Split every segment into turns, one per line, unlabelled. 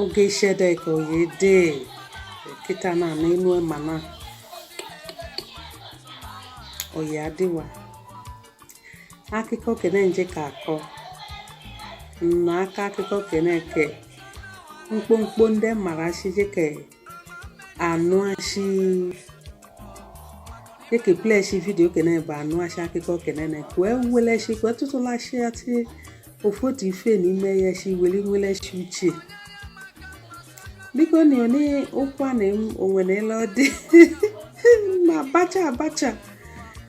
oge ishede ka oye de kịta na na enu emana oye adịwa akụkọ kene nje ka akọ na-akọ akụkọ kene ke mkpomkpo ndị mara shije ke anụashi eke pleshi video kene bụ anụashi akụkọ kenene kwee weleshi kwee tụtụlashi atị ofu otu ife n'ime ya shi weli weleshi uche biko na onye ụkwa na onwe na ele ọ dị na abacha abacha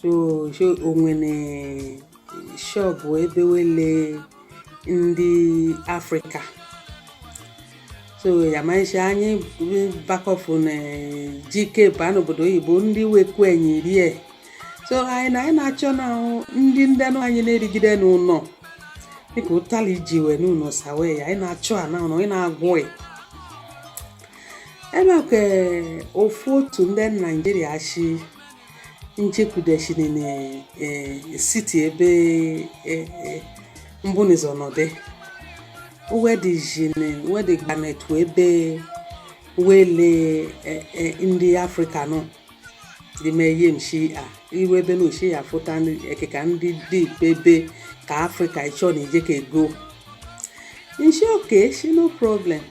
so so o nwere shop ebe wele ndị afrịka so ya mashi anyị bakọfụ na jikep a n'obodo oyibo ndị wekwu enyi rie so anyị na anyị na-achọ na ndị ndị anụ anyị na-erigide n'ụlọ dịka ụtali ji wee n'ụlọ sawe ya anyị na-achọ a na ụlọ anyị na-agwụ ya enwekwa ofu otu ndị naijiria shi nchekwudechiri na e, city ebe e, e, m bu n'ụzọ nọdị wedịgbanetu ebe wele ndị afrịka nọ dime ihe mshi a iwe ebe na oshi ya fụta ekeka ndị dị ebe ka afrịka ịchọ na ije ka ego nshi oke shi no problem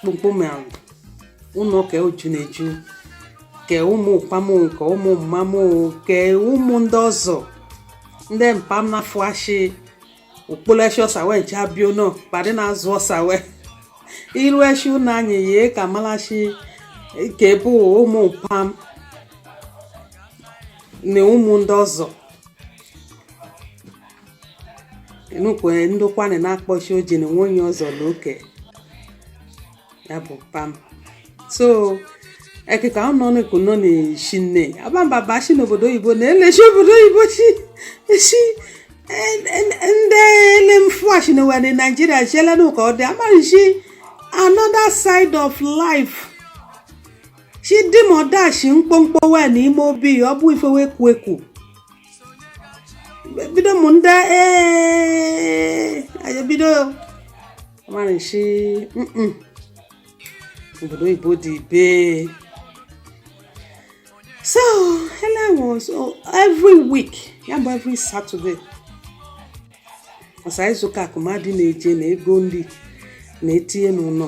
kpokpome ahụ ụlọ ke eju na-eju ke ụmụ mpa m nke ụmụ mma m ke ụmụ ndị ọzọ ndị mpa m na-afụashi okpolesi ọsa wee ji abịa ụlọ pa dị na-azụ ọsa wee iru eshi ụlọ anyị ye ka malashi ke bụ ụmụ mpa m na ụmụ ndị ọzọ n'okwu Ndokwa nị na-akpọshi oji na nwe onye ọzọ na oke ya bụ pa m so ekeka ọ nọ n'eku nọ na-eshi nne abamba ba shi n'obodo oyibo na-eleshi obodo oyibo shi eshi ndị ele m fụashi na were naijiria shi ele na ụka ọ dị amarishi another side of life shi dị ma ọ dashi mkpọmkpọ wee na ime obi ọ bụ ife wee kwu ekwu bido mụ ndị ee anyị bido amarịshi obodo oyibo dị ibe so ele was every week ya bụ every Saturday ọsa izuka ka ụmadị na-eje na-ego nri na-etinye n'ụnọ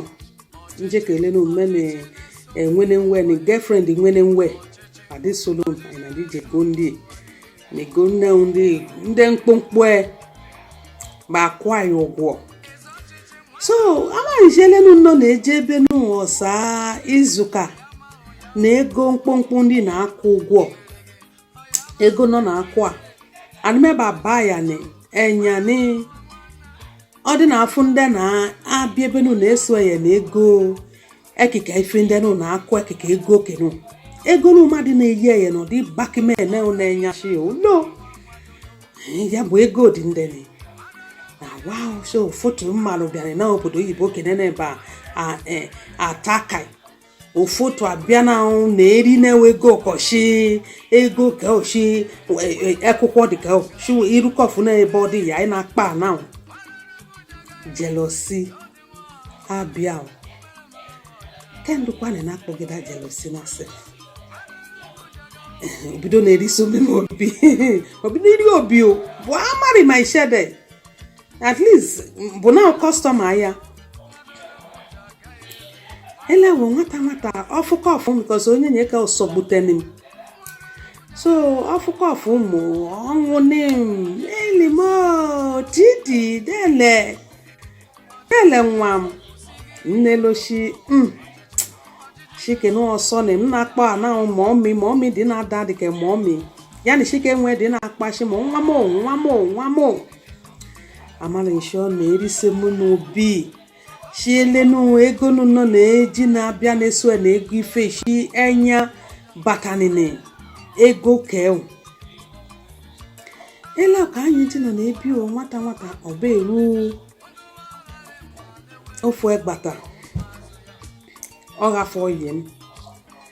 njekele na omume na enwene nwe na girlfriend nwene nwe adị solo na dije go ndị na ego nne ndị ndị mkpụmkpụ e ba akwụ anyị ụgwọ so amarị m shi elenu nọ na-eje ebe nụ ọsa izuka na-ego mkpụmkpụ ndị na-akwụ ụgwọ ego nọ na-akwụ a anụmeba bayani enyani ọ dị na-afụ ndị na-abịa ebe nụ na-eso ya na-ego ekike ife ndị nụ na-akwụ ekike ego kenu ego nụ ụmadị na-eyi ya na ọdị bakimene na-enye ashi no ya bụ ego dị ndị na wa so foto mmadụ bịanị na obodo oyibo kene na ebe a atakai ụfụtụ abịa na ahụ na-eri na-ewe ego ụkọchị ego ka ochi akwụkwọ dị ka ochi irukọfụ na ebe ọ dị ya anyị na-akpọ na jealousy abịa kendụkwana na-akpọgide jealousy na asị o bido na-eri so mmemme obi o bido iri obi o bụ amarị m shi ede at least bụ na customer ya elewo nwata nwata ọfụkọ ọfụ because onyenye ke ọsọ buteni m so ọfụkọ ọfụ mụ ọnwụ ni m elimo didi dele dele nwa m nneloshi m shike na ọsọ na m na-akpọ ana mummy mummy dị na-ada dị ka mummy ya na shike nwee dị na-akpọ shi m nwa m nwa m nwa m amarị m shi ọ na-erise m n'obi shi elenu ego nọ na-eji na-abịa na-eso na-ego ife shi enya batanini ego kewu ele ka anyị ji nọ na-ebi o nwata nwata ọba eru ofu egbata ọ ghafọ yie m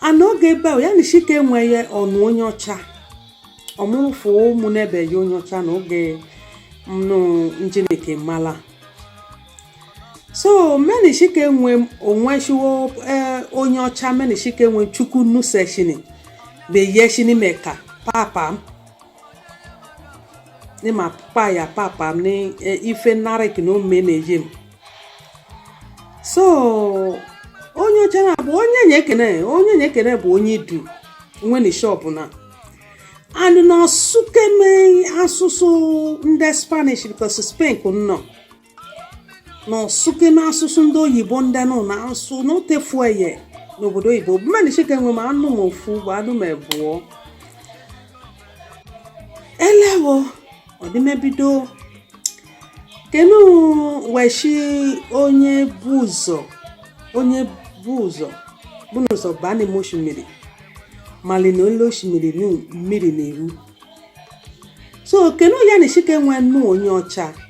a n'oge ebe ahụ ya na shike enwe ọnụ onye ọcha ọmụrụfụ ụmụ n'ebe ya onye ọcha na oge nụ njeneke mala so meni shike enwe onwe shiwo e, onye ọcha meni shike enwe Chukwu nuseshini beyeshini meka papa ne ma pa ya papa m ne eh, ife narị ka na ome na-eje m so onye ọcha na bụ onyenye kene onyenye kene bụ onye Idu nwe na shop na and na ọ sụkeme asụsụ ndị spanish because spain ka m nọ na ọ sụke n'asụsụ ndị oyibo ndị nọ na-asụ na o tefue ya n'obodo oyibo mmadụ chike nwe ma anụ m ofu bụ anụ m ebụọ elewo ọdịmebido kenu wee shi onye bu ụzọ onye bu ụzọ bu n'ụzọ baa n'ime oshimiri mali na olu oshimiri mmiri na-eru so kenu ya na chike nwe nnu onye ọcha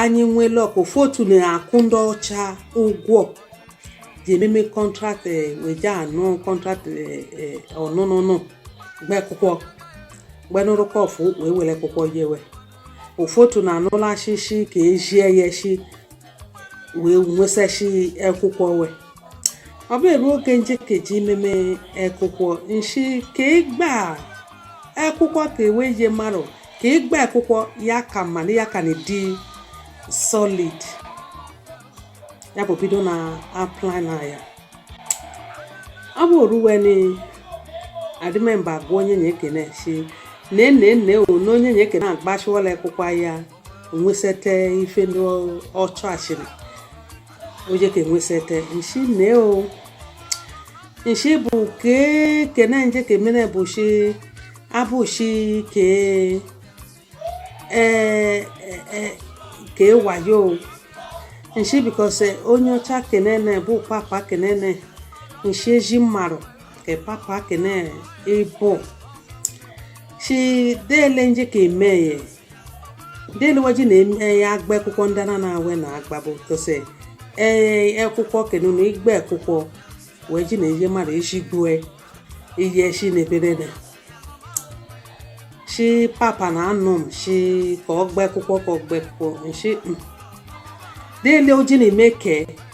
anyị nwere ofu otu na-akwụ ndị ọcha ụgwọ ji ememe contract eh, weje anụ contract eh, eh, ọnụnụnụ gba akwụkwọ gbanụrụkọ ofu wee were akwụkwọ yewe ofu otu na-anụla achịchị ka ejie ya echi wee nwesachi akwụkwọ wee ọ bụ ebe oge njekeji imeme akwụkwọ nshi ka ịgba akwụkwọ ka ewe ihe mmadụ ka ịgba akwụkwọ ya ka mma na ya ka na-edi solid ya bụ bido na apply na ya ọ bụ o ruwe ni adịmemba agwa onye nye ekene si na ene ene o na onye nye ekene agbasiwala akwụkwọ ya nwesịta ife ndị ọ chọ achịrị o je ka enwesete nshi mee o nshi bụ ke kene nje ka emene bụ shi abụ shi ke ee ka ewayo o nshi because onye ọcha kenene bụ papa kenene nshi eji mmarụ ke papa kene ịbụ shi dele nje ka emeye ndị eluwaji na-eme ya agba akwụkwọ ndị na na-awe na agba bụ tose ee akwụkwọ kenu na igbe akwụkwọ wee ji na-eje mmadụ isi gbue iyi eshi na eberede shi papa na anụ m shi ka ọ gba akwụkwọ ka ọ gba akwụkwọ nshi dele o ji na-eme ke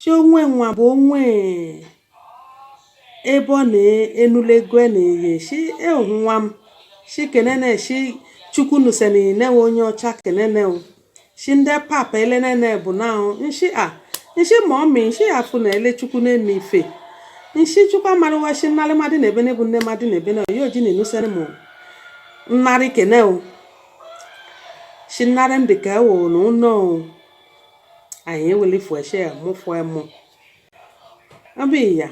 shi onwe nwa bụ onwe ebe ọ na-enulegwe na ihe shi ehu nwa m shi kenene shi chukwu nuseni newe onye ọcha kenene o shi ndị papa elenene bụ na o nshi a nshi ma ọ mi nshi afụ na ele chukwu na-eme ife nshi chukwu amarụwa shi nnarị mmadụ na ebe na ebu nne mmadụ na ebe na oyi o ji na enuseni mụ nnarị kene o shi nnarị m dịka ewo na ụnọ o anyị eweli fueshe ya mụfue mụ ebe ya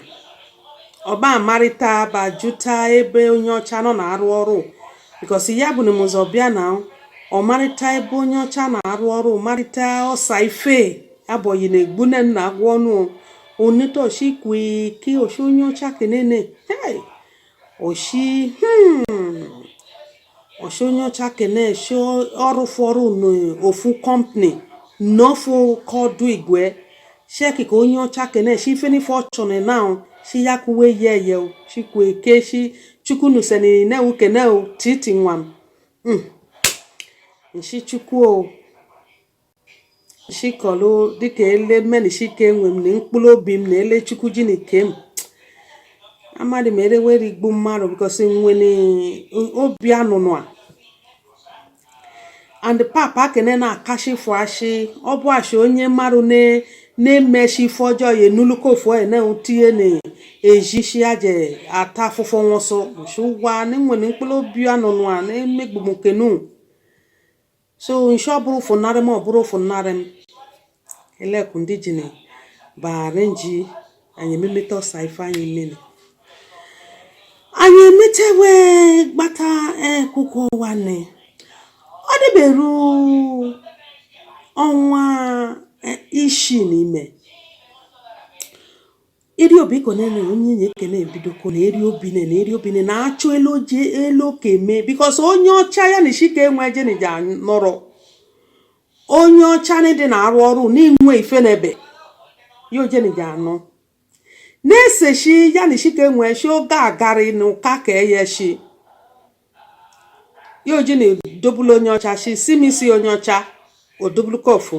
ọ ba amarịta ba jụta ebe onye ọcha nọ na-arụ ọrụ because ya bụ na mụzọ bịa na ọ marịta ebe onye ọcha na-arụ ọrụ marịta ọsa ife abọghị na egbu na nna agwọ ọnụ onitoshi kwe ke oshi onye ọcha kenene hey oshi hmm ọ shi onye ọcha kene shi ọrụ fọrụ n'ofu company n'ofu kọdụ igwe sheki ka onye ọcha kene shi ife n'ife ọchọnị na shi ya kuwe ye ye o shi kwe ke shi chukwu nuseni ne u kene o titi nwam mm. nshi chukwu o shikọlụ dịka ele menishike nwe m na mkpụrụ obi m na ele chukwu jini ke m amadị m ele were igbu mmadụ because nwere obi anụnụ a and papa kene na-akashi fụ ashị ọ bụ ashị onye mmadụ na-emeshi ife ọjọọ ya enuluka ofu onye na-etinye na-ejishi ya je ata afụfụ nwụsụ ụwa na enwere mkpụrụ obi anụnụ a na-emegbu m kenu so nshi ọ bụrụ fụnarị m ọ bụrụ fụnarị m elekwu ndị ji na baara nji anyị ememeta ọsa ife anyị menị anyị emetewe gbata ekwukwo ụwa nne ọ dịberu ọnwa ishii n'ime eri obi ko nene onyenye kene ebido ko na eri obi nene eri obi nene achọ ele o je ele ọ ke mee because onye ọcha ya na isi ka enwe jenija nọrọ onye ọcha na dị na-arụ ọrụ n'inwe ife n'ebe ya ojenija anọ na-eseshi ya na isi ka enwe shi oge agari na ụka ka eye shi ya oji na-edobulu onye ọcha shi si m isi onye ọcha odobulu kofu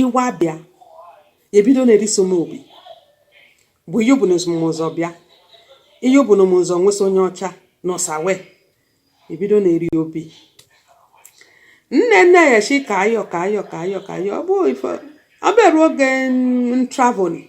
iwa bịa ebido na-eriso m obi bụ ihe bụ na mụ so bịa ihe bụ na mụ so we so onye ọcha n'ọsa we ebido na-eri obi nene ya shi ka ayọ ka ayọ ka ayọ ka ayọ ọ bụ ife ọ bịara oge traveling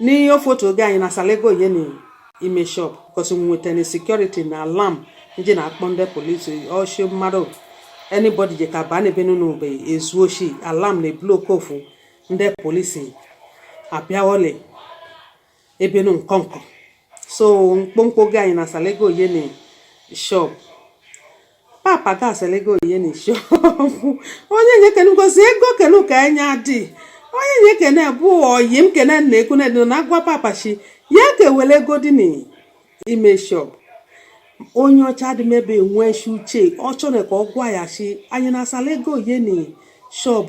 n'ihe ofotu oge anyị na-asala ego ye n'ime shop because we nweta na security na alarm ndị na-akpọ ndị polisi o shi mmadụ anybody je ka baa n'ebe nụ mgbe ezu oshi alarm na-eblow kofu ndị polisi abịa wole ebe nụ nkọnkọ so mkpomkpo oge anyị na-asala ego ye na shop papa ga-asala ego ye na shop onyenye kene because ego kene ka enye adị onyenye kene bụ oyi m kene na ekwu na na agwa papa shi ya kewere ego dị n'ime shop onye ọcha dị mebe nwee shi uche ọ chọrọ ka ọ gwa ya shi anyị na-asala ego ye na shop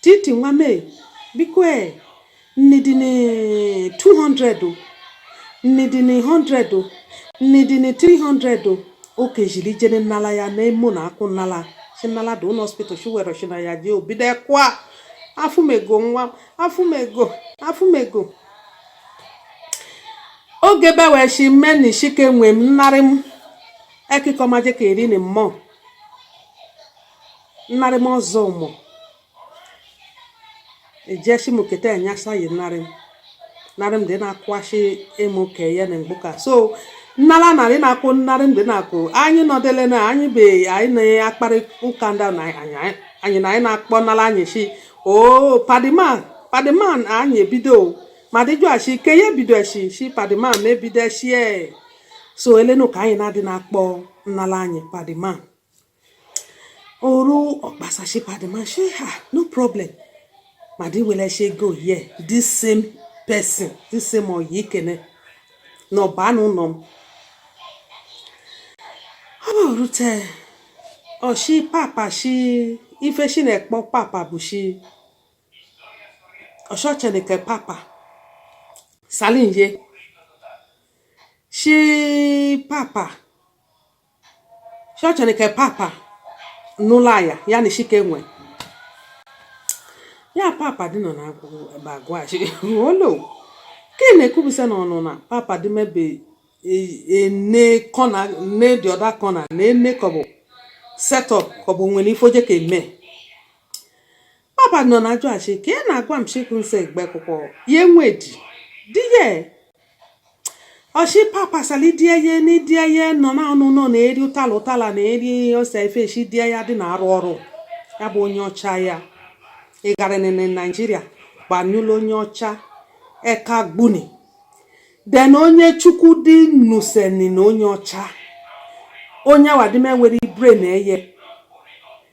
Titi nwa m e, biko e, nni dị ni 200 o, nni dị ni 100 o, nni dị ni 300 o. O kejiri jene nnala ya na emo na akwụ nnala. Si nnala dị ụlọ hospital shi were shi na ya jee o bido ekwa. Afụmego nwa m, afụmego, afụmego. Oge be wee si mme na isike nwe m nnarị m ekikọmaje ka eri ni mmụọ. nnarị m ọzọ ụmụ ejeshi m keta enyasa yi nnarị m narị m dị na-akwụghachi ịmụ ka ya na mgbuka so nnara narị na-akwụ nnarị m dị na-akwụ anyị nọdele na anyị be anyị na-akparị ụka ndị na anyị na anyị na-akpọ nnala anyị shi o oh, padiman padiman anyị ebido ma dịjụ ashi ke ya ebido eshi shi padiman ma ebido eshie so elenu ka anyị na-adị na-akpọ nnala anyị padima oru ọkpasachi padị ma shi ha no problem ma dị were she go here this same person this same oyi ikene na ọba n'ụlọ m ọ bụ rute ọ shi papa shi ife shi na-ekpọ papa bụ shi ọshọchenike papa salinye shi papa chọchịrị ka papa n'ụlọ aya ya na chike nwe ya papa dị nọ na agwa shi olo ka ị na-ekwubisa na ọnụ na papa dị mebe ene corner ne the other corner na ene kọ bụ setup kọ bụ nwere ife o je ka eme Papa nọ na ajụ ashị ka ị na-agwa m chikwu nse egbe kwụkwọ ya enwe di di ya ọ shi papa sali di ya ni di ya nọ na ọnụ nọ na-eri ụtala ụtala na-eri ose efeshi di ya dị na-arụ ọrụ ya bụ onye ọcha ya ịgarịnị na Nigeria gbanyụla onye ọcha eka gbuni then onye chukwu dị nuseni na onye ọcha onye wadime nwere ibre na eye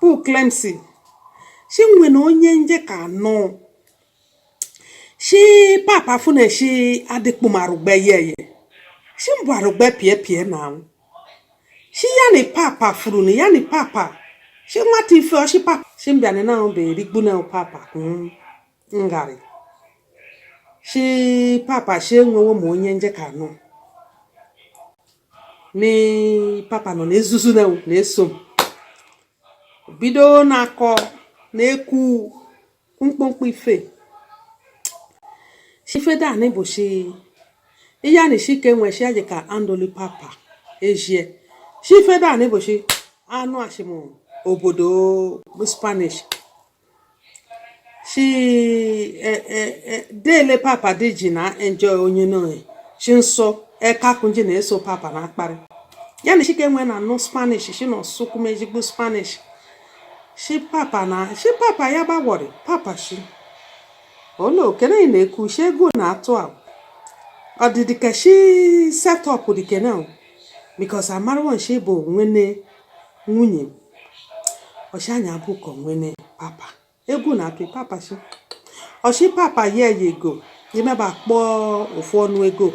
Paul Clemson shi nwe na onye m je ka anụ shi papa fune shi adịkpụm arụgbe ye ye shi mbụ arụgbe pie pie na anwụ shi ya ni papa furu ni ya ni papa shi nwata ife ọ shi papa shi mbịa ni na ahụ bụ erigbu na papa mm. ngarị shi papa shi enwewo m onye m je ka anụ ni papa nọ na-ezuzu na na-eso m bido na-akọ na-ekwu mkpụmkpụ ife shi ife danị bụ shi ihe a na-esi ike nwe shi aji ka andoli papa eshie shi ife danị bụ shi anụ ashịm obodo spanish shi eh, eh, eh, dele papa dị ji na enjoy onye n'oyi chi nsọ ekakunji na-eso papa na akparị ya na shi Ekene na-anụ spanish shi na ọsụkwum ezigbo spanish shi papa na shi papa ya gbawọrị papa shi ole Ekene na-ekwu shi egwu na-atụ a ọdịdị ka shi set up Ekene because amarọ shi bụ nwene nwunye m ọchịanya bụ ka onwene papa egwu na-atụ papa si ọ shi papa nye ya ego emeba kpọọ ofu ọnụ ego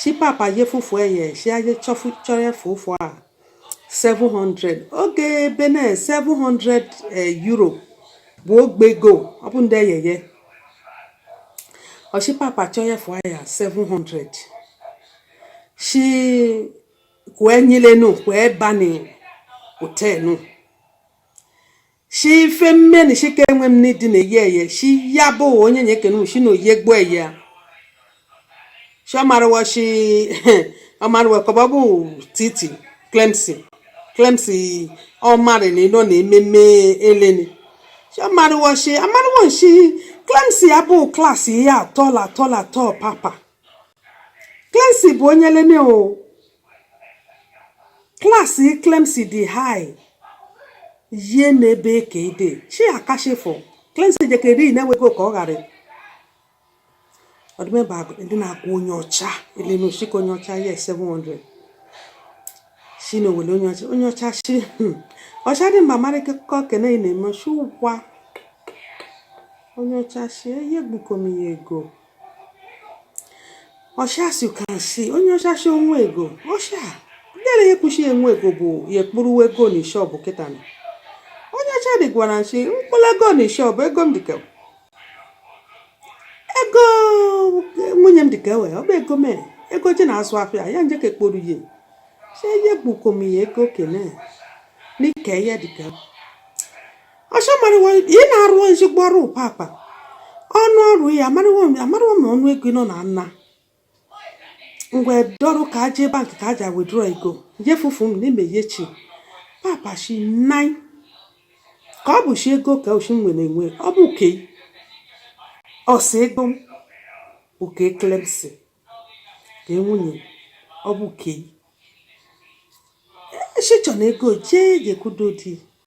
si papa ye fufu eye si aye chọrọ efe ụfụ a 700 oge bene 700 eh, euro bụ ogbe ego ọ bụ ndị eyeye ọ shi papa chọrọ efe aya 700 si kwe nyile nu kwe bani ute nu shi ife mme na shi ka enwe m n'idi na eye eye shi ya bụ ọyị ye Ekene shi na oye gbuo eye shi ọmarụwa shi ọmarụwa kọba bụ Titi Clemcy Clemcy ọmarị na ịnọ na ememe eleni shi ọmarụwa shi amarụwa shi Clemcy ya bụ classy ihe atọ la atọ la atọ papa Clemcy bụ onye leme o class Clemcy dị high yie n'ebe ka ide chi akashifụ Clemcy jekere na-enweghị ka ọ ghara ọdịmeba ndị na-akwụ onye ọcha elenu shika onye ọcha ya 700 shi na owele onye ọcha onye ọcha shi hmm. ọcha dị mba mara ke Ekene na-eme shi ọ gwa onye ọcha shi eye gbukom ya ego ọcha as you can see onye ọcha shi o nwe ego ọcha ndere ya ekwuchi enwe ego bụ ya ekporu ego na shọpụ kịta na onye ọcha dị gwara shi ekporu ego na shọpụ ego m dịka ego nwunye m dịka ewe ọ bụ ego mere ego ji na-azụ afịa ya nje ka ekporu ya si ye gbukom ya ego Ekene na nke ya dịka ọcha marawa ị na-arụ ezigbo ọrụ papa ọnụ ọrụ ya amarawa m ọnụ ego nọ na nna ngwa dọrọ ka a jee bank ka a ja withdraw ego je fufu m n'ime ihe shi papa shi nai ka ọ bụ shi ego ka oshi nwere enwe ọ bụ ke ọsọ ego m oke Clemcy ka enwunye ọ bụ ke shi chọ na ego jee ga-ekwudo di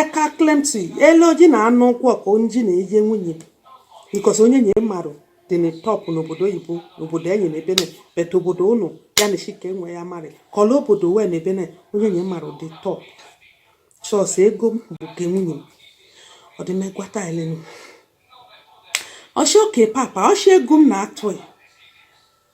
eka klemti ele oji na anụ ụkwụ ọka onji na eje nwunye because onye nye marụ dị na top n'obodo oyibo n'obodo enyi na ebene bet obodo ụnụ ya na chike nwe ya marị kọla obodo wee na ebene onye nye marụ dị top sọsọ ego m bụ nke nwunye m ọdịmegwata elenu ọ shị okay papa ọ shị ego m na-atụghị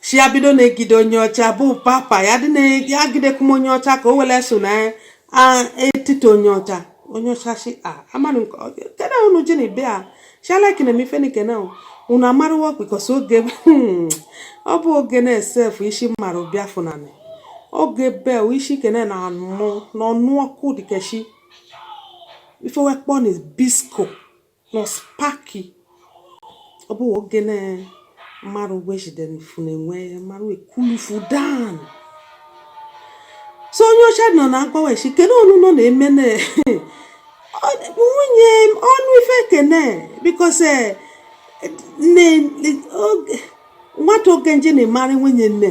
si ya bido na-egide onye ọcha bụ papa ya dị na-agidekwu m onye ọcha ka o were so na etiti onye ọcha onye ọcha si amanụ kedu unu ji na ibe a shalaki na mifenike na unu amarụwo because oge hmm, ọ bụ oge na-esef isi mmadụ bịa funani oge bel isi kene na anụ n'ọnụ ọkụ dikeshi before e wee kpọ na bisko Los Paki ọ bụ oge na mmadụ wejidere mfu na-enwe mmadụ ekulufu dan so onye ọcha nọ na agbaweshi kedu ọnụ nọ na-eme na nwunye ọnụ ife kene because eh, nwata oge nje na-emara nwunye nne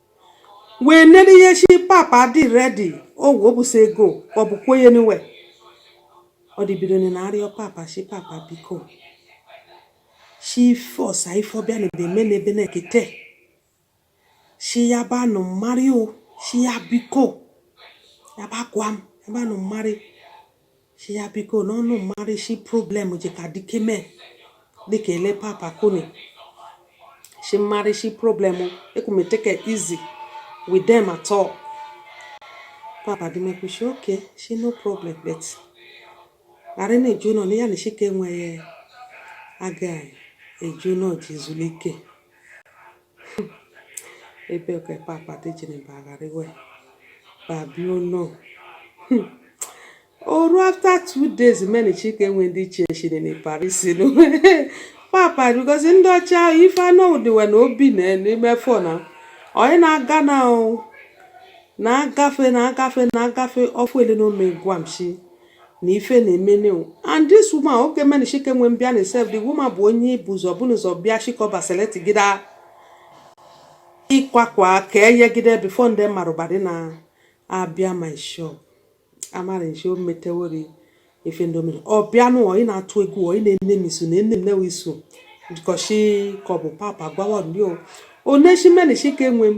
wee nene ihe shị papa dị ready owu obusi ego ọ bụ kwenye niwe ọ dị bido na-arịọ papa shị papa biko shị ife ọsa ife ọbịa na ebe eme na ebe na-ekete shị ya ba nụ mmarị ọ shị ya biko ya ba gwa m ya ba nụ mmarị si ya biko na ọnụ mara isi problem ji ka dike mee dịka ele papa koni si mara isi problem ekwumeteke easy with them at all papa dị mekwu si okay si no problem but ghara na-eje ụnọ na ya na chike enweghị aga eje ụnọ je zuru ike ebe ka papa dejere bagharịwe babio no hmm. o ru after two days many chike enwe ndị iche chiri na paris no papa because ndị ọcha ahụ ife anọ dịwe na obi na n'ime fon ahụ onye na-aga na na-agafe na-agafe na-agafe ọfụ ele na ome gwa m shi na ife na-eme new and this woman oke mene shike nwe mbịa na sef the woman bụ onye ibu ụzọ bụ n'ụzọ bịa shikọba selectgide akwa akwa ka eyegide before ndị marụ badị na-abịa my shop amara nshi o metewori ife ndị omere ọ bịa nụ ị na-atụ egwu ọ ị na-ene m iso na ene m newe iso kọshi ka ọ bụ papa gbawa ndị o oneshimene shike nwe m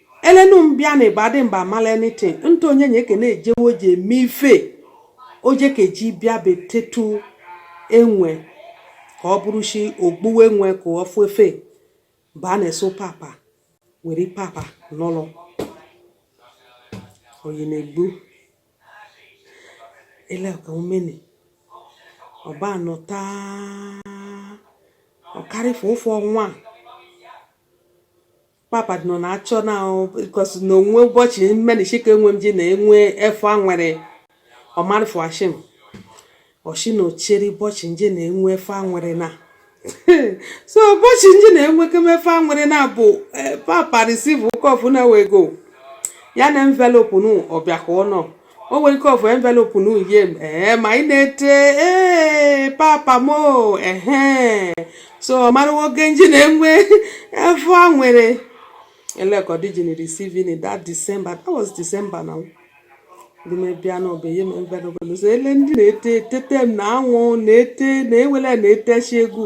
elenu mbịa na ịba adị mba amala anything ntụ Onyinye Ekene ejewe oji eme ife oje ka eji bịa betetu enwe ka ọ bụrụ shi ogbuwe enwe ka ọ fụ efe mgbe a na-eso papa were papa n'ụlọ oyi na-egbu eleka omeni ọba anọ taa ọkarịfụ ofe ọnwa papa nọ na-achọ na because na onwe ụbọchị mmenishika enwe m ji na enwe efu a nwere ọmarịfụ ashim ọchị na ochere ụbọchị nje na enwe efu a nwere na so ụbọchị nje na enwe kemefe a nwere na bụ eh, papa receive ụkọfụ na wego ya na envelope nụ ọbịa ka ọ nọ o nwere ike ọ fụ envelope nụ ye m ee ma ị na-ete ee papa m ehe so ọ mara nwoke nji na-enwe afọ a nwere elekọdijin receiving in that December that was December now ndị mebia na ọbeye m envelope so ele ndị na-ete etete m na anwụ na-ete na ewele na-etechi egwu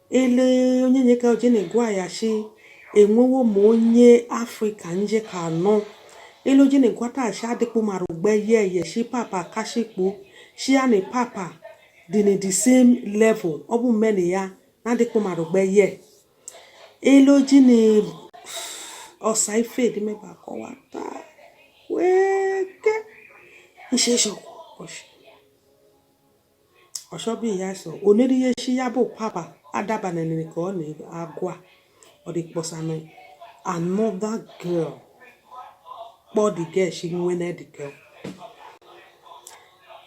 ele Onyinye ka o ji na-egwa ya shi enwewo m onye Africa nje ka anọ ele o ji na-egwata shi adịkpụ mara ugbe ye eye shi papa kashikpo shi ya na papa dị na the same level ọ bụ mme na ya na adịkpụ mara ugbe ye ele oji na ọsa ife edimeba kọwata weke nsheshọkwa ọshị ọshọbi ya sọ onere ihe shi ya bụ papa adabanenere ka ọ na-agwa ọ dị kpọsanụ another girl kpọ the girl shi nwe na the girl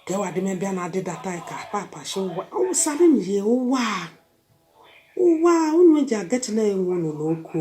kewa dị mebịa na adịdata ka papa shi ụwa awụsara m ihe ụwa ụwa unu ji agatila enwe unu n'oku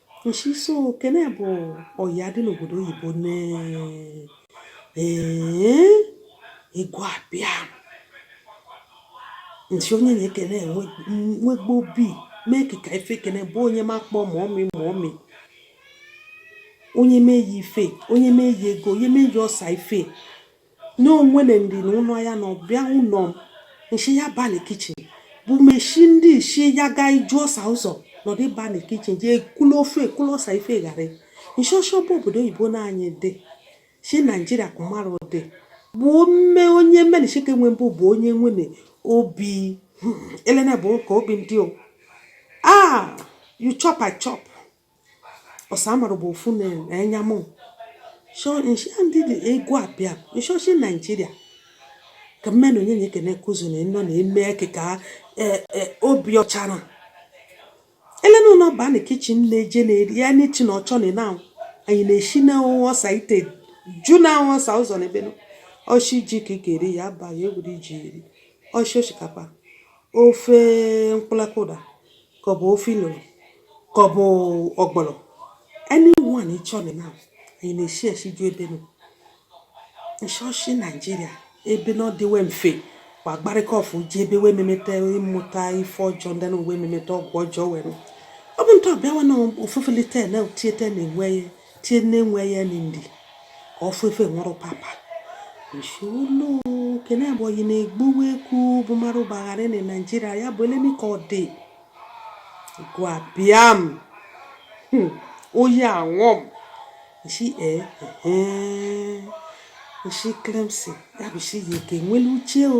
nshi so kene bụ ọ ya dị n'obodo oyibo na igwe abịa nshi Onyinye Ekene nwegbo obi mee ka ife ekene bụ onye makpọ mummy mummy o nye m ife o nye m ego o nye m ọsa ife n'onwene ndi na ụlọ ya na ọbịa ụlọ m nshi ya ba na kitchen bụ meshi ndị isi ya ga iju ọsa ụzọ nọdụ ba na kitchen jee kụlụ ofe kụlụ ọsa ife ghara nshọshọ bụ obodo oyibo na anyị dị si Nigeria kumara dị bụ mme onye menishike nwe mbụ bụ onye nwene obi hmm, elena bụ ka obi ndị o ah you chop i chop ọsamara bụ ofu na-enya mụ shọ nshi ndị dị egwu abịa nshọshi naijiria ka mmenụ onye nye kene kuzu na ịnọ na-eme eke ka e, e, obi ọcha na elena ụlọ ba na kichin na-eje na-eri ya n'echi na ọchọ na ịna anyị na-eshi na ọsa ite ju na ọsa ụzọ na ebe o shi ji ka ị ga-eri ya abaghị egwuri ji eri o shi osikapa ofe mkpụlakụda ka ọ bụ ofe ilolo ka ọ bụ ọgbọlọ anyone ị chọrọ na anyị na-eshi eshi ju ebe nọ nshọshi naijiria ebe na ọ dịwe mfe kwa gbarịka ọfụ ji ebe wee memeta ịmụta ife ọjọọ dị n'ụwa memeta ọgwụ ọjọọ were ọ bụ ntọ bịawa na ofufele ten na o tie te nne nwe tie nne nwe ya ni ndi ka ọ fefe nwụrụ papa nsolo kene abụghị na-egbuwe ekwu bụ mara ụbaghara na naijiria ya bụ elemi ka ọ dị egwu abịa m hmm, oyi anwụ m nshi ee nshi klemsi ya bụ shi ya eke nwere uche o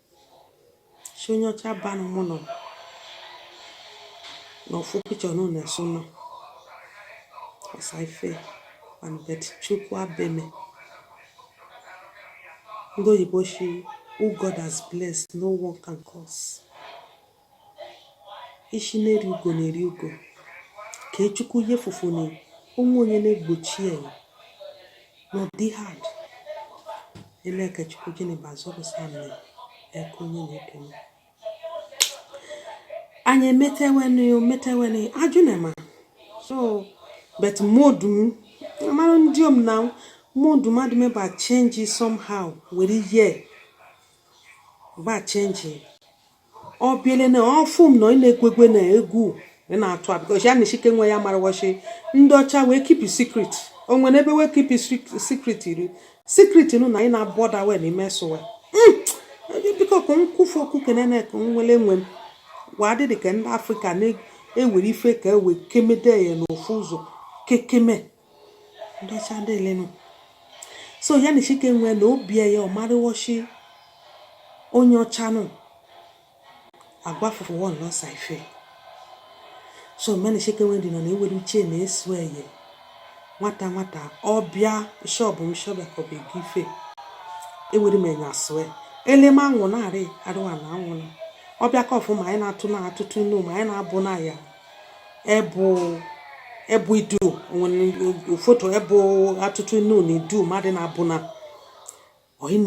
shọ onye ọcha ba nụ mụ nọ na ofu picture nụ na-eso nọ ọsa ife and but chukwu abeme ndị oyibo shi who God has blessed no one can curse ishi neri ugo neri ugo ke chukwu ihe fufu na o nwe onye na-egbochi ya n'ụdị ha dị ele ka chukwu gịnị bụ azọpụsa mere eke onye na-ekene anyị emeteweni ometeweni ajụ na ma so but modu mara dị ọma na modu mmadụ meba change somehow were ihe ba change ọ bịale na ọfụ m na ị na-ekwekwe na egwu ị na-atụ a because ya na chike nwe ya mara wa shi ndị ọcha wee keep secret o nwere ebe wee keep secret iri secret nụ na ị na-abọda we na imesowe hmm! biko ka m kwufu okwu kenene ka nwere nwe m waa dị dị ka ndị afrịka na-ewere ife ka ewe kemede ya n'ofu ụzọ kekeme ndị ọcha ndị elenụ so ya na chike nwee na obi ya ọ marịwochi onye ọcha nụ agwa fụfụ wọn lọsa ife so mgbe na chike nwee dị nọ na ewere uche na esu eye nwata nwata ọbịa shọbụ m shọbịa ka ọ bụ ego ife ewere m enye asụe elema anwụ na-arị arụwa na anwụ na ọbịa ka ọfụma anyị na-atụ na atụtụ inu ma anyị na-abụ na ya ebu ebu idu nwere foto ebu atụtụ inu na idu mmadụ na-abụ na onye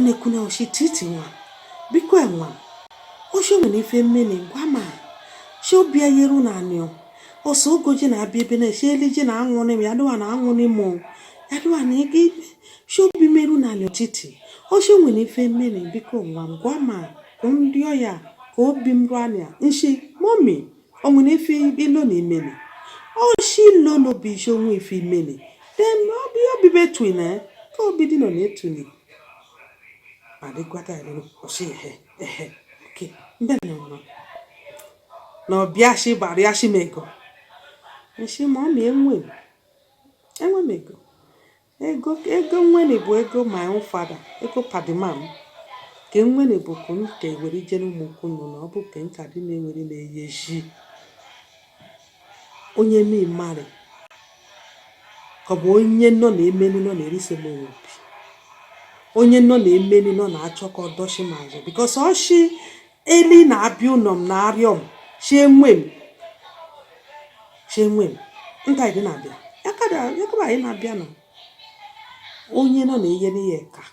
na-ekwu na ọ shi titi nwa biko nwa ọ shi nwere ife m mere gwa ma shi obi eyeru na anịọ ọsọ ogo ji na-abịa ebe na-eshi elu ji na anwụ n'ime ya dịwa na anwụ n'ime ya dịwa na ego ibe shi obi m eru ana titi ọ shi nwere ife m mere biko nwa gwa ma nrịọ ya ka obi m ruo ana nshi mommy o nwere ife i lo na i meli ọ shi i lo na obi shi o nwe ife i meli then obi obi bụ etu na ya ka obi dị nọ na etu na adịkwata ilo ọ shi ehe ehe oke ndị nọ nọ na ọbịa shi gbara ya shi m ego nshi mommy enwe enwe m ego ego ego nwene bụ ego my own father ego padimam ka nwene bụ ka m ka ewere ije n'ụmụ ụkwụnụ na ọ bụ ka nka dị na-ewere na-eye ji onye mmarụ ka ọ bụ onye nọ na-emenu nọ na-erise m obi onye nọ na-emenu nọ na-achọ ka ọ dọchi m azụ because ọ shi Eli na-abịa ụlọ m na arịọ m iwe m iwe m nta ịdị na-abịa yakada yakaba anyị na-abịa nọ onye nọ na-enyere aka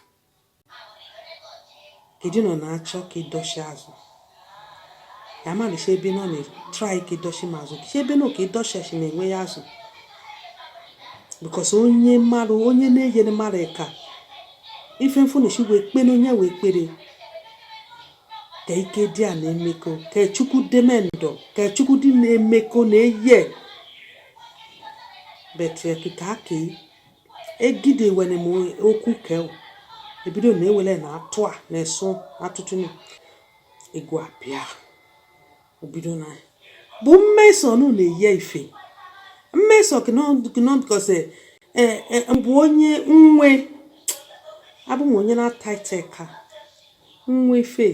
kedu nọ na-achọ ka ịdọchi azụ ya malicha ebe nọ na-try ka ịdọchi m azụ kiche ebe nọ ka ịdọchi achị na-enwe ya azụ because onye mmadụ onye na-enyere mmadụ aka ife m fụnụ shi wee kpe n'onye wee kpere ka ike dị a na-emekọ ka chukwu deme ndụ ka chukwu dị na-emekọ na eye but ka egide were m okwu ka ebido na ewele na atụ a na-eso atụtụ egwu abịa obido na bụ mmeso nụ na-eyi ife mmeso kinọ because e, e, bụ onye nwe abụ m onye na-ata ite ka nwe ife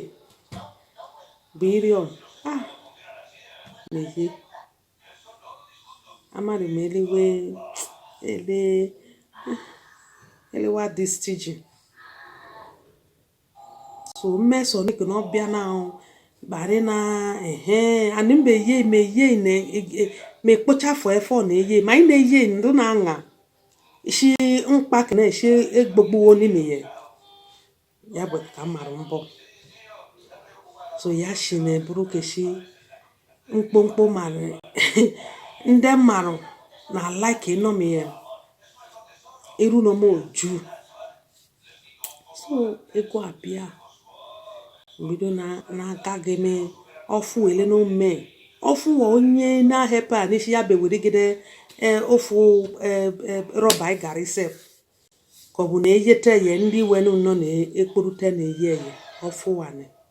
bụ iri ọ ah na-eyi amadị m elewe ele elewa dị stingy so mmeso niko na ọbịa na ahụ kparị na ehe anị mba eye ma eye na e, e, ma ekpocha afọ efe ọ na-eye ma anyị na-eye ndụ na aṅa isi mkpa ka na-esi egbogbuwo n'ime ya ya but ka m mara mbọ so ya si na eburu keshi mkpomkpo mara ndị mmarụ na like ịnọm ya iru na m oju So ego a bịa bido na n'aka gị mee ọfụ ele na ome ọfụ wa onye na-ahepụ a n'isi ya bewedegide e, ofu e, e, rọba ị gara isep ka ọ bụ na eyete ye ndị wenu nọ na-ekporute na-eyi eye ọfụ wa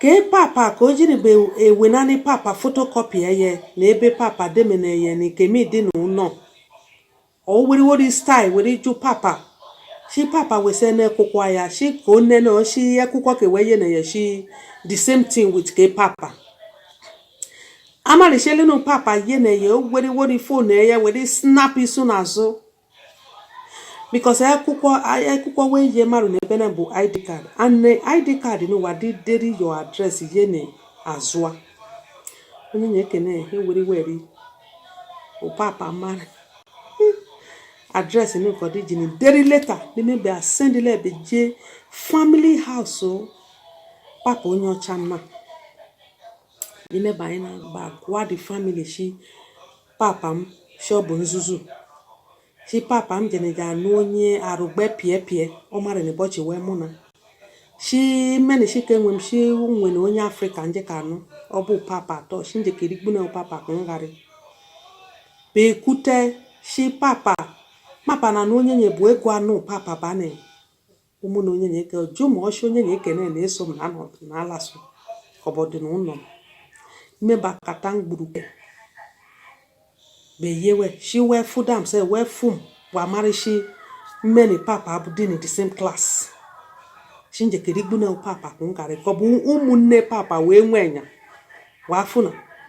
Ke papa ka o jiri be ewenani papa photocopy eye na ebe papa demene eye ni kemi dị na ụlọ. Ọ were wori style were jụ papa. Shi papa wesene ekwụkwọ ya shi ka o nene ọ shi ekwụkwọ ka ewe yene ya shi the same thing with ke papa. Amarịshelinu papa yene ya o were wori phone eye were snap isu n'azụ. because akwụkwọ akwụkwọ wee ye mmarụ na ebe na bụ id card and id card n'ụwa dị deri your address ye na azụ a onyenye kene ya ewere were ọ papa mara address n'ụkọ dị ji na deri leta n'ime be asendịla ebe jee family house papa onye ọcha mma n'ime be anyị na-agba gwa the family shi Papa m shi ọ bụ nzuzu shi papa m jene ja anụ onye arụ gbe pịa pịa ọ mara na ụbọchị wee mụ na shi mmeni shi ka enwe m shi nwe na onye afrịka nje ka anụ ọ bụ papa atọ shi nje ka erigbu na papa ka ngharị bekute shi papa papa na anụ onyenye bụ ego anụ papa bane ụmụnne onye na-eke jụ ma ọ shi onyenye kene na-eso m na anọdụ na alasụ kọbọdụ na ụlọ m mmeba kata mgburuke beyewe shi wee fụ dam se wee fụ m wa marishi mmeni papa abụ dị na the same class shi nje ke erigbuna papa kwụ nkarị kọbụ ụmụnne papa wee nwee nya wee afụ na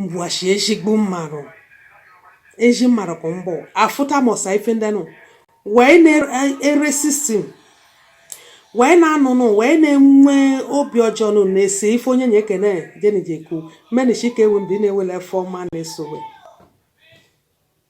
ngwashi ezigbo mmarụ ezi mmarụ ka mbụ afụta mọsa ife ndị nụ wee na-ere sistem wee na-anụ nụ wee na-enwe obi ọjọọ nụ na-ese ife onyenye kene jenijeku menishi ka ewu ndị na-ewele ife ọma na-eso we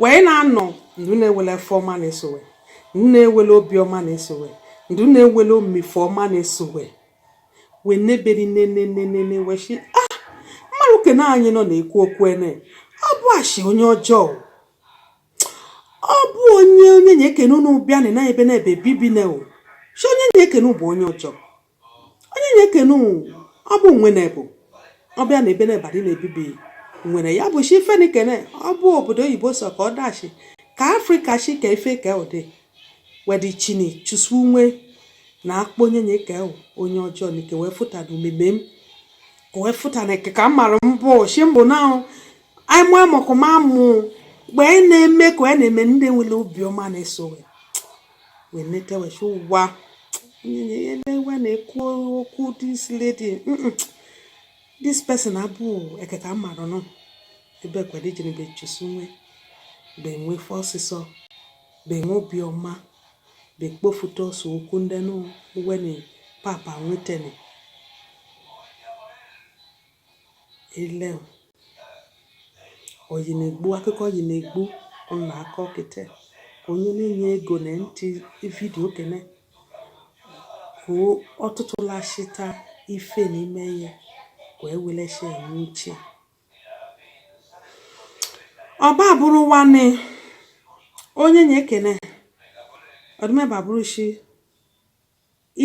wee na-anọ ndụ na-ewele ife ọma na-eso we ndụ na-ewele obi ọma na-eso we ndụ na-ewele omife ọma na-eso we wee neberi nenenenene wee shi ah mmarụ kene anyị nọ na-ekwu okwu ene ọ bụ ashi onye ọjọọ ọ bụ onye onyenye kene unu bịa na na ebe na ebe bibi na o shi onyenye kene bụ onye ọjọọ onyenye kene ọ bụ wee na bụ ọ bịa na ebe na ebadị na-ebibi nwere ya bụ shi ife na ọ bụ obodo oyibo sọ ka ọ dachi ka afrịka shi ka ife ka ụdị wedị chini chụsụwe na akpọ onye na eke onye ọjọọ na ike wee fụta na omume m wee fụta na eke ka m mara mbụ shi mbụ na ahụ anyị mụ amụkụ ma mụ mgbe anyị na-eme ka anyị na-eme ndị nwere obiọma na-eso wee nete wee sị ụwa wee na-ekwu okwu this lady this person abụ eketa mmadụ nọ ebe ekwere ijere be chụsụwe be wee fe ọsịsọ be nwe obiọma be kpofuta ọsọ okwu ndị nụ uwe na papa wetene Ele o. Oyi na-egbu, akụkọ oyi na-egbu m na-akọ kịta. Onye na-enye ego na ntị vidiyo kene. Ka ọ tụtụla chịta ife na ime ya ka e were sị enwe uche. Ọba bụrụ nwanne onyenye kene ọ dịmebe abụrụ shi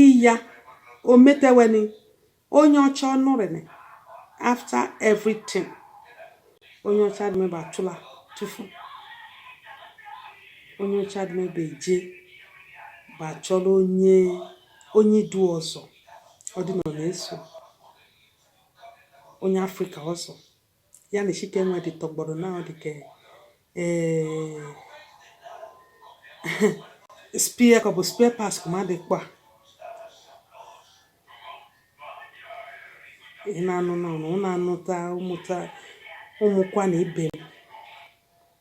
Iya o meteweni onye ọcha ọ nọrịnị after everything onye ọcha adịmebe atụla tụfu onye ọcha adịmebe eje ba achọla onye onye idu ọzọ ọ dị na ọ na-eso onye afrịka ọzọ ya na chike wedị tọgbọrọ na ọ dị ka eh, spare ka ọ bụ spare parts ka mmadụ kpa ị na-anụ n'ọnụ ụnụ anụta amụta ụmụkwa na ibe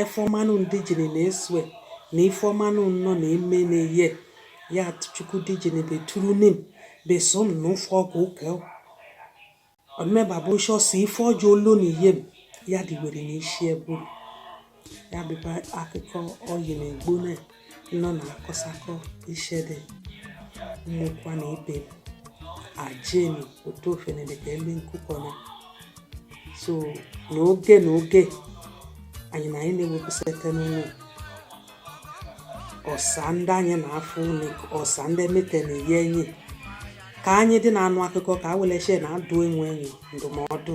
ife ọma unu ndijini na esue na ife ọma unu nọ na eme na eye ya chukwu dijini be turu nim be som na ụfọ ọkụ ụka ọ dịmebe abụ nsọ si ife ọjọọ olu na ihe m ya dịwere n'isi bu ya bịba akụkọ oyi na egbu na nọ na akọsakọ ishede ụmụkwa na ibe ajenu otu ofene dịka elu nkụkọna so n'oge na oge anyị na anyị na-ewepụsịta unu ọsa ndị anyị na-afụ unu ọsa ndị emete na eyi enyi ka anyị dị na-anụ akụkọ ka a weleche na adụ onwe anyị ndụmọdụ